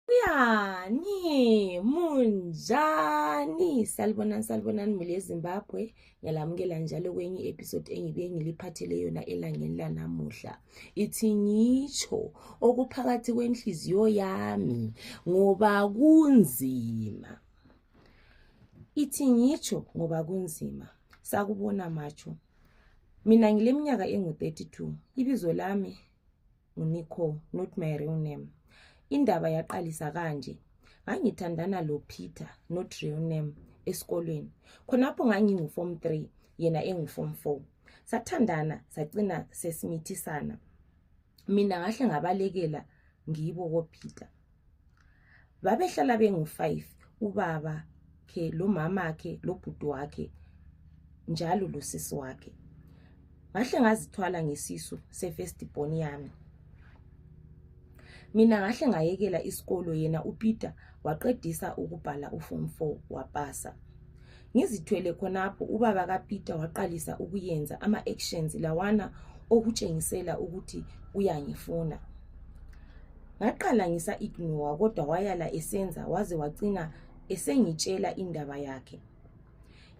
Kuyani munjani salibonani salibonani muli ezimbabwe ngiyalamukela njalo kwenye i-episode engibuye ngiliphathele yona elangeni lanamuhla ithi ngitsho okuphakathi kwenhliziyo yami ngoba kunzima ithi ngitsho ngoba kunzima sakubona matsho mina ngileminyaka engu-32 ibizo lami nguNicole not my real name indaba yaqalisa kanje ngangithandana lopeter not real name esikolweni khonapho nganginguform three yena enguform four sathandana sacina sesimithisana mina ngahle ngabalekela ngibo kopeter babehlala bengu-five ubaba khe lomama khe lobhuti wakhe njalo losisi wakhe ngahle ngazithwala ngesisu se-first born yami mina ngahle ngayekela isikolo yena upeter waqedisa ukubhala uform four wapasa Ngizithwele khonapho ubaba kaPeter waqalisa ukuyenza ama actions lawana okutshengisela ukuthi uyangifuna. Ngaqala ngisa ignore kodwa wayala esenza waze wacina esengitshela indaba yakhe.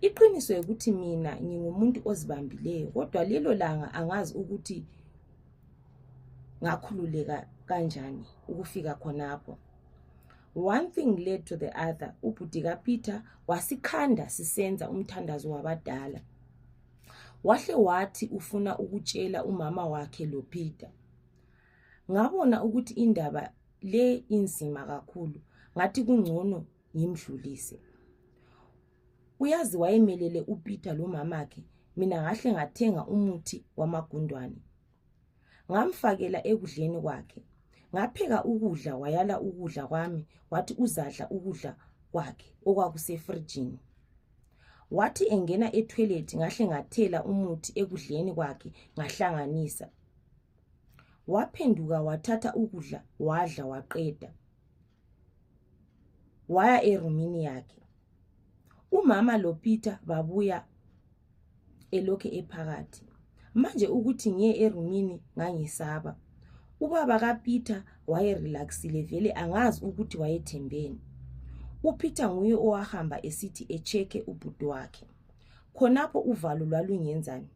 Iqiniso ukuthi mina ngingumuntu ozibambileyo kodwa lelo langa angazi ukuthi ngakhululeka kanjani ukufika khonapho. one thing led to the other ubhudi kapeter wasikhanda sisenza umthandazo wabadala wahle wathi ufuna ukutshela umama wakhe lopeter ngabona ukuthi indaba le inzima kakhulu ngathi kungcono ngimdlulise uyazi wayemelele upeter lomamakhe mina ngahle ngathenga umuthi wamagundwane ngamfakela ekudleni kwakhe ngapheka ukudla wayala ukudla kwami wathi uzadla ukudla kwakhe okwakusefrijini wathi engena etoilet ngahle ngathela umuthi ekudleni kwakhe ngahlanganisa waphenduka wathatha ukudla wadla waqeda waya erumini yakhe umama lopeter babuya elokhe ephakathi manje ukuthi ngiye erumini ngangisaba ubaba kapeter wayerelaxile vele angazi ukuthi wayethembeni upeter nguye owahamba esithi echeke ubhuti wakhe khonapho uvalo lwalungenzani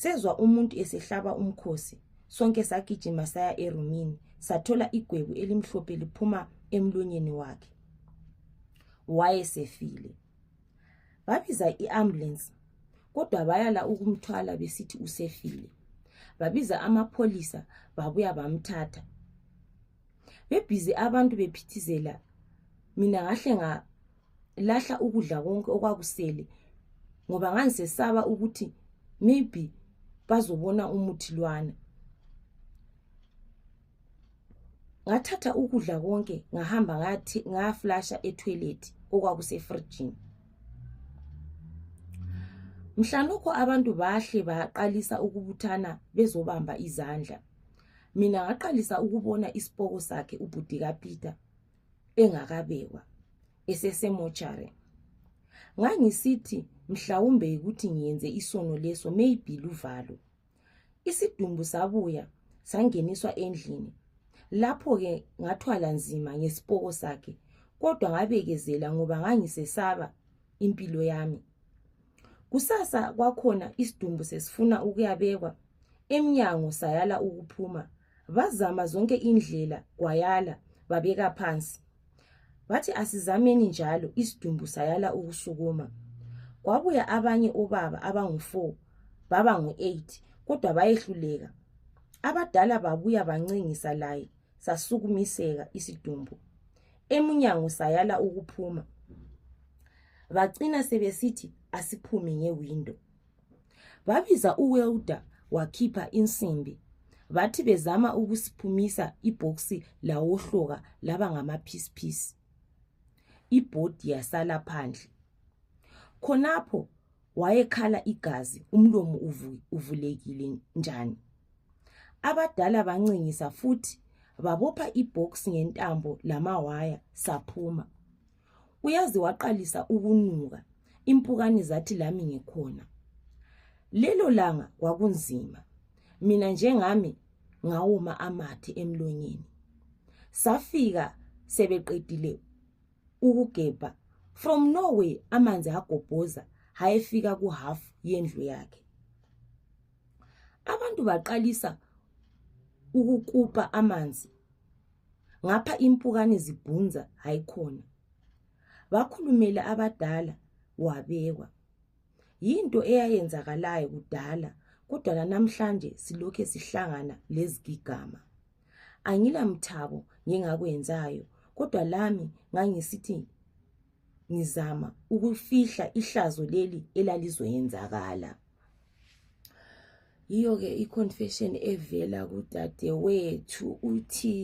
sezwa umuntu esehlaba umkhosi sonke sagijima saya erumini sathola igwebu elimhlophe liphuma emlonyeni wakhe wayesefile babiza i-ambulance kodwa bayala ukumthwala besithi usefile babiza amapholisa babuya bamthatha bebhizi abantu bephithizela mina ngahle ngalahla ukudla konke okwakusele ngoba ngangisesaba ukuthi maybe bazobona umuthi lwana ngathatha ukudla konke ngahamba ngathi ngaflasha etoilet okwakusefrijini mhlanokho abantu bahle baqalisa ukubuthana bezobamba izandla mina ngaqalisa ukubona isipoko sakhe ubhudi kapeter engakabekwa esesemochare ngangisithi mhlawumbe yikuthi ngiyenze isono leso maybe luvalo isidumbu sabuya sangeniswa endlini lapho-ke ngathwala nzima ngesipoko sakhe kodwa ngabekezela ngoba ngangisesaba impilo yami kusasa kwakhona isidumbu sesifuna ukuyabekwa emnyango sayala ukuphuma bazama zonke indlela kwayala babeka phansi bathi asizameni njalo isidumbu sayala ukusukuma kwabuya abanye obaba abangu-4 baba ngu-8 kodwa bayehluleka abadala babuya bancengisa laye sasukumiseka isidumbu emunyango sayala ukuphuma bacina sebesithi asiphume ngewindo babiza uwelda wakhipha insimbi bathi bezama ukusiphumisa ibhoksi lawohloka laba ngamaphisphisi ibhodi yasala phandle khonapho wayekhala igazi umlomo uvulekile njani abadala bancingisa futhi babopha ibox ngentambo lamawaya saphuma uyazi waqalisa ukunuka impukane zathi lami ngikhona lelo langa kwakunzima mina njengami ngawoma amathe emlonyeni safika sebeqedile ukugebha from norway amanzi agobhoza hayefika kuhalf yendlu yakhe abantu baqalisa ukukupa amanzi ngapha impukane zibhunza hayikhona bakhulumele abadala wabekwa yinto eyayenzakalayo kudala kodwa lanamhlanje silokhe sihlangana lezigigama angilamthabo ngingakwenzayo kodwa lami ngangisithi ngizama ukufihla ihlazo leli elalizoyenzakala yiyo ke iconfession evela kudadewethu uthi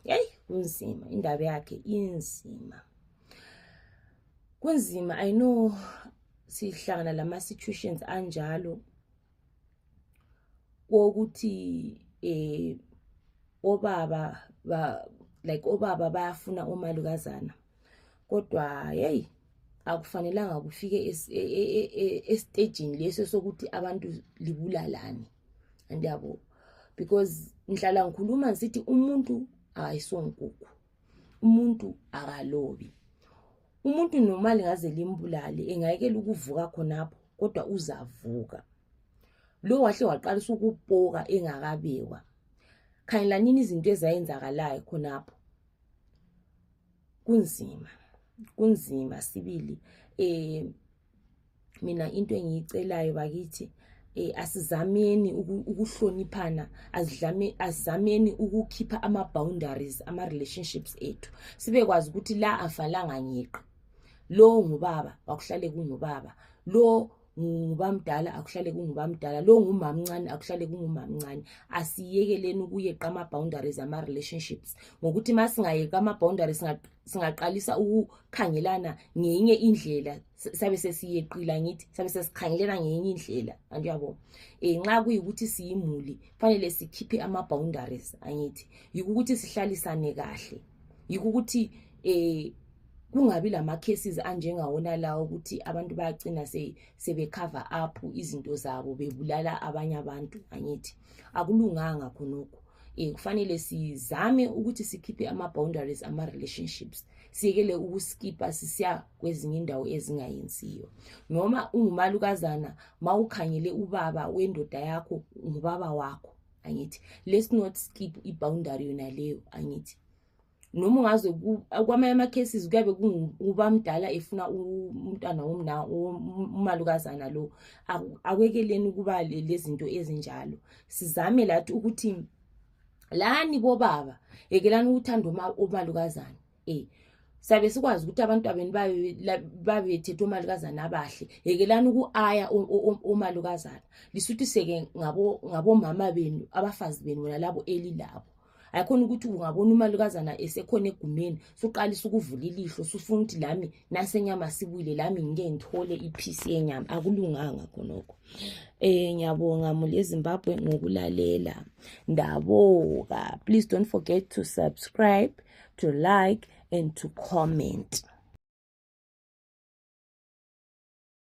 yeyi kunzima indaba yakhe inzima kunzima i know sihlangana lama-situations anjalo kokuthi eh obaba ba like obaba bayafuna omalukazana kodwa hey akufanelanga kufike esitejini e, e, e, leso sokuthi abantu libulalane andiyabo because ngihlala ngikhuluma ngisithi umuntu akayisonkukhu umuntu akalobi umuntu noma lingaze limbulale engayekela ukuvuka khonapho kodwa uzavuka lo wahle waqalisa ukupoka engakabekwa khanyelanini izinto ezayenzakalayo khonapho kunzima kunzima sibili um mina into engiyicelayo bakithi eh asizameni ukuhloniphana azidlame azameni ukukhipha ama boundaries ama relationships ethu sibe kwazi ukuthi la afalanga ngiqi lo ngubaba wakuhlale kungubaba lo ngubamdala akuhlale kungubamdala lo ngumamncane akuhlale kungumamncane asiyekeleni ukuyeqa ama boundaries ama relationships ngokuthi masingayeqa ama boundaries singaqalisa ukukhangelana ngenye indlela sabe sesiyeqila ngithi sabe sesikhangelana ngenye indlela anti uyabo um nxa kuyikuthi siyimuli kufanele sikhiphe ama-boundaries angithi yikho ukuthi sihlalisane kahle yikho ukuthi um kungabi lama-cases anjengawona lawo ukuthi abantu bayagcina sebecover up izinto zabo bebulala abanye abantu angithi akulunganga khonokho um kufanele sizame ukuthi sikhiphe ama-boundaries ama-relationships siyekele ukuskipha sisiya kwezinye indawo ezingayenziyo noma ungumalukazana ma ukhangele ubaba wendoda yakho ngubaba wakho angithi let's not skip i-boundary yona leyo angithi noma ungaze kwamanye ama-cases kuyabe kungubamdala efuna umntwana womna umalukazana lo akwekeleni ukuba lezinto ezinjalo sizame lathi ukuthi lani bobaba yekelani ukuthanda umalukazana um sabe sikwazi ukuthi abantwabeni babethetha omalukazana abahle yekelani uku-aya omalukazana lisuthi seke ngabomama benu abafazi benu nalabo elilabo ayikhona ukuthi ungabona umalukazana esekhona egumeni suqalisa ukuvula ilihlo sufuna ukuthi lami nasenyama sibuyile lami ngike ngithole iphisi yenyama akulunganga khonokho Eh ngiyabonga muli eZimbabwe ngokulalela. Ndaboka. Please don't forget to subscribe, to like and to comment.